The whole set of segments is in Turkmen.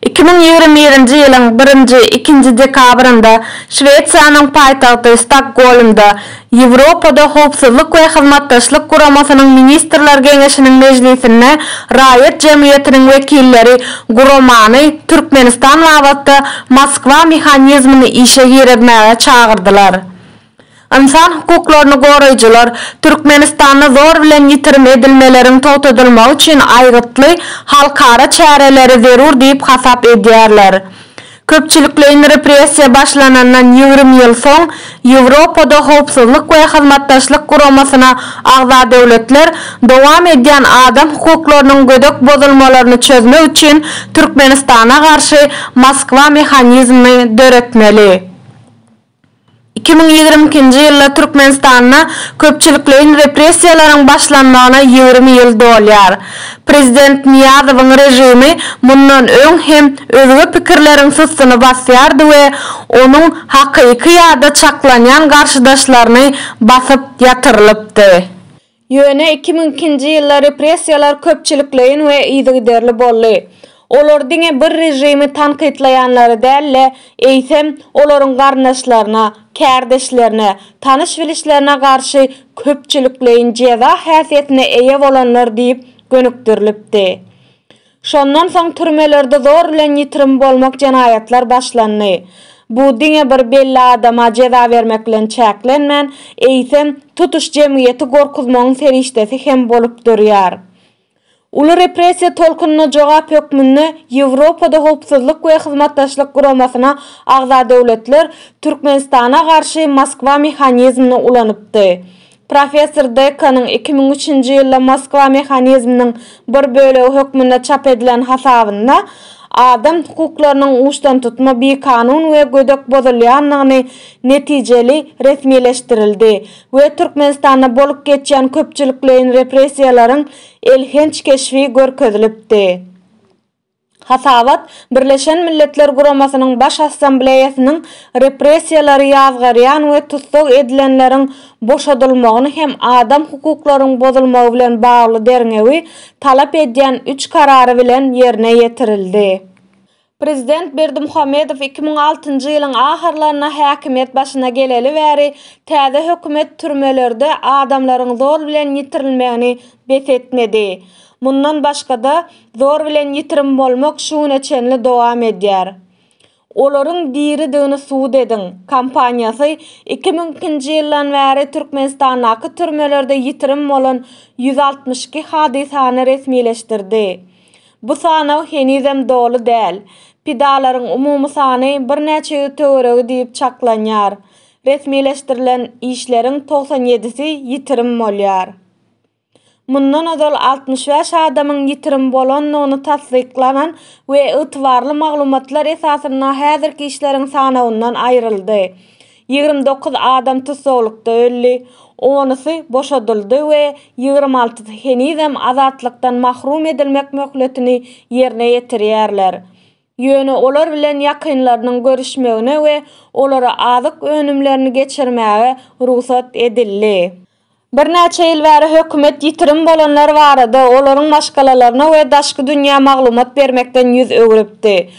Iki müň ýigrimi birinji ýylyň birinji, ikinji dekabrynda Şwesiýanyň paýtagty Stokgolmda Ýewropada Howpsuzlyk we Hyzmatdaşlyk Guramasynyň Ministrler Geňeşiniň mejlisinde raýat jemgyýetiniň wekilleri guramany Türkmenistan babatda Moskwa mehanizmini işe girizmäge çagyrdylar. Ynsan hukuklaryny goraýjylar Türkmenistanda zor bilen ýitirim edilmeleriň togtadylmagy üçin aýgytly halkara çäreleri zerur diýip hasap edýärler. Köpçülikleýin repressiýa başlanandan ýigrimi ýyl soň Ýewropada Howpsuzlyk we Hyzmatdaşlyk Guramasyna agza döwletler dowam edýän adam hukuklarynyň gödek bozulmalaryny çözmek üçin Türkmenistana garşy Moskwa mehanizmini döretmeli Iki müň ýigrimi ikinji ýylda Türkmenistanda köpçülikleýin repressiýalaryň başlanmagyna ýigrimi ýyl dolýar. Prezident Nyýazowyň režimi mundan öň hem özge pikirleriň systyny basýardy we onuň hakyky ýa-da çaklanýan garşydaşlaryny basyp ýatyrylypdy. Ýöne iki müň ikinji ýylda repressiýalar köpçülikleýin we yzygiderli boldy. Olar diňe bir režimi tankytlaýanlary däl-de, eýsem, olaryň garyndaşlaryna, kärdeşlerine, tanyş-bilişlerine garşy köpçülikleýin jeza häsiýetine eýe bolanlar diýip gönükdirilipdi. Şondan soň türmelerde zor bilen ýitirim bolmak jenaýatlar başlandy. Bu diňe bir belli adama jeza bermek bilen çäklenmän, eýsem, tutuş jemgyýeti gorkuzmagyň serişdesi hem bolup durýar. Uly repressiýa tolkunyna jogap hökmünde Ýewropada Howpsuzlyk we Hyzmatdaşlyk Guramasyna agza döwletler Türkmenistana garşy Moskwa mehanizmini ulanypdy. Professor Dekkanyň iki müň üçünji ýylda Moskwa mehanizminiň bir bölegi hökmünde çap edilen hasabynda adam hukuklarynyň uçdantutma bikanun we gödek bozulýandygyny netijeli resmileşdirildi we Türkmenistanda bolup geçýän köpçülikleýin repressiýalaryň elhenç keşbi görkezilipdi. Hasabat Birleşen Milletler Guramasynyň Baş Assambleýasynyň repressiýalary ýazgarýan we tussag edilenleriň boşadylmagyny hem adam hukuklaryň bozulmagy bilen bagly derňewi talap edýän üç karary bilen ýerine ýetirildi. Prezident Berdimuhamedow iki müň altynjy ýylyň ahyrlarynda häkimiýet başyna geleli bäri täze hökümet türmelerde adamlaryň zor bilen ýitirilmegini bes etmedi. Mundan başga-da, Zor bilen ýitirim bolmak şu güne çenli dowam edýär. Olaryň diridigini subut ediň! kampaniýasy iki müň ikinji ýyldan bäri Türkmenistandaky türmelerde ýitirim bolan ýüz altmyş iki hadysany resmileşdirdi. Bu sanaw henizem doly däl. Pidalaryň umumy sany birnäçe ýüz töweregi diýip çaklanýar. Resmileşdirilen işleriň togsan ýedisi ýitirim bolýar. mundan ozal altmyş bäş adamyň ýitirim bolandygyny tassyklanan we ygtybarly maglumatlar esasynda häzirki işleriň sanawyndan aýryldy. Ýigrimi dokuz adam tussaglykda öldi, onusy boşadyldy we ýigrimi altysy henizem azatlykdan mahrum edilmek möhletini ýerine ýetirýärler. Ýöne olar bilen ýakynlarynyň görüşmegine we olara azyk önümlerini geçirmäge rugsat edildi. Birnäçe ýyl bäri hökümet ýitirim bolanlar barada, olaryň maşgalalaryna we daşky dünýä maglumat bermekden ýüz öwrüpdi.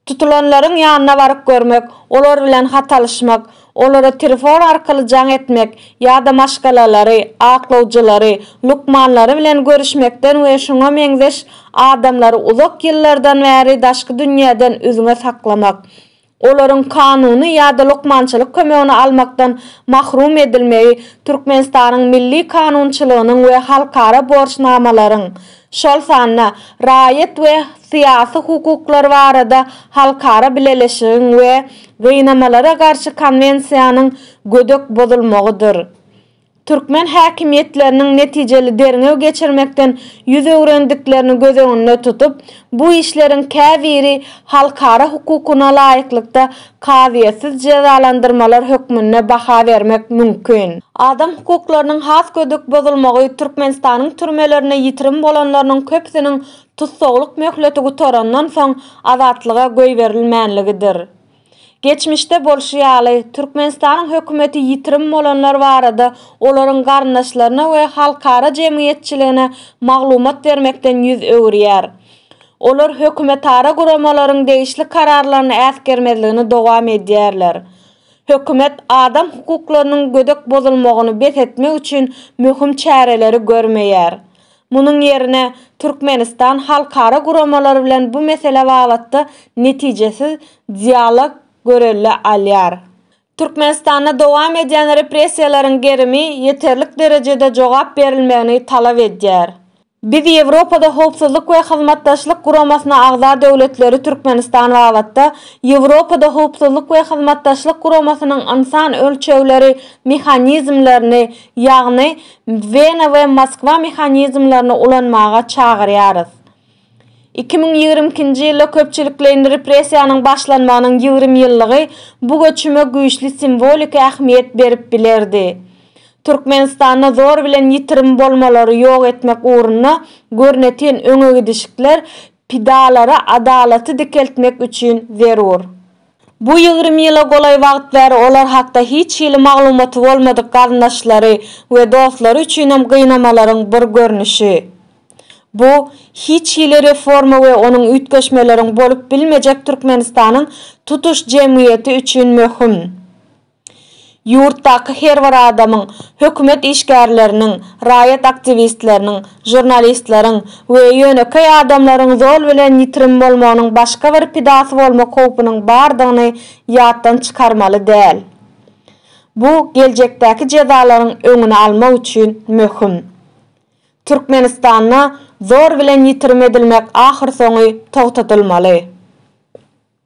Tutulanlaryň ýanyna baryp görmek, olar bilen hat alyşmak, Olara telefon arkaly jaň etmek ýa-da maşgalalary, aklawjylary, lukmanlary bilen görüşmekden we şuňa meňzeş adamlary uzak ýyllardan bäri daşky dünýäden üzňe saklamak, olaryň kanuny ýa-da lukmançylyk kömegini almakdan mahrum edilmegi Türkmenistanyň milli kanunçylygynyň we halkara borçnamalaryň şol sanda raýat we syýasy hukuklar barada halkara bileleşigiň we Gynamalara garşy konwensiýanyň gödek bozulmagydyr. Türkmen häkimiýetleriniň netijeli derňew geçirmekden ýüz öwrendiklerini göz öňünde tutup, bu işleriň käbiri halkara hukugyna laýyklykda kazyýetsiz jezalandyrmalar hökmünde baha bermek mümkin. Adam hukuklarynyň has gödek bozulmagy Türkmenistanyň türmelerinde ýitirim bolanlarynyň köpüsiniň tussaglyk möhleti gutarandan soň azatlyga goýberilmänligidir. Geçmişde bolşy ýaly, Türkmenistanyň hökümeti ýitirim bolanlar barada olaryň garyndaşlaryna we halkara jemgyýetçiligine maglumat bermekden ýüz öwürýär. Olar hökümetara guramalaryň degişli kararlaryny äsgermezligini dowam edýärler. Hökümet adam hukuklarynyň gödek bozulmagyny bes etmek üçin möhüm çäreleri görmeýär. Munuň ýerine, Türkmenistan halkara guramalar bilen bu mesele babatda netijesiz dialog görelde alýar. Türkmenistanda dowam edýän repressiýalaryň gerimi ýeterlik derejede jogap berilmegini talap edýär. Biz Ýewropada Howpsuzlyk we Hyzmatdaşlyk Guramasyna agza döwletleri Türkmenistan babatda Ýewropada Howpsuzlyk we Hyzmatdaşlyk Guramasynyň ynsan ölçegleri mehanizmlerini, ýagny Wena we Moskwa mehanizmlerini ulanmaga çagyrýarys. Iki müň ýigrimi ikinji ýylda köpçülikleýin repressiýanyň başlanmagynyň ýigrimi ýyllygy bu göçüme güýçli simwoliki ähmiýet berip bilerdi. Türkmenistanda zor bilen ýitirim bolmalary ýok etmek ugrunda görnetin öňegidişikler pidalara adalaty dikeltmek üçin zerur. Bu ýigrimi ýyla golaý wagt bäri olar hakda hiç hili maglumaty bolmadyk garyndaşlary we dostlary üçinem gynamalaryň bir görnüşi. Bu, hiç hili reforma we onuň üýtgeşmeleriň bolup bilmejek Türkmenistanyň tutuş jemgyýeti üçin möhüm. Ýurtdaky her bir adamyň, hökümet işgärleriniň, raýat aktiwistleriniň, žurnalistleriň we ýönekeý adamlaryň zol bilen ýitirim bolmagynyň başga bir pidasy bolmak howpunyň bardygyny ýatdan çykarmaly däl. Bu geljekdäki jezalaryň öňüni almak üçin möhüm. Türkmenistanda zor bilen ýitirim edilmek ahyrsoňy togtadylmaly.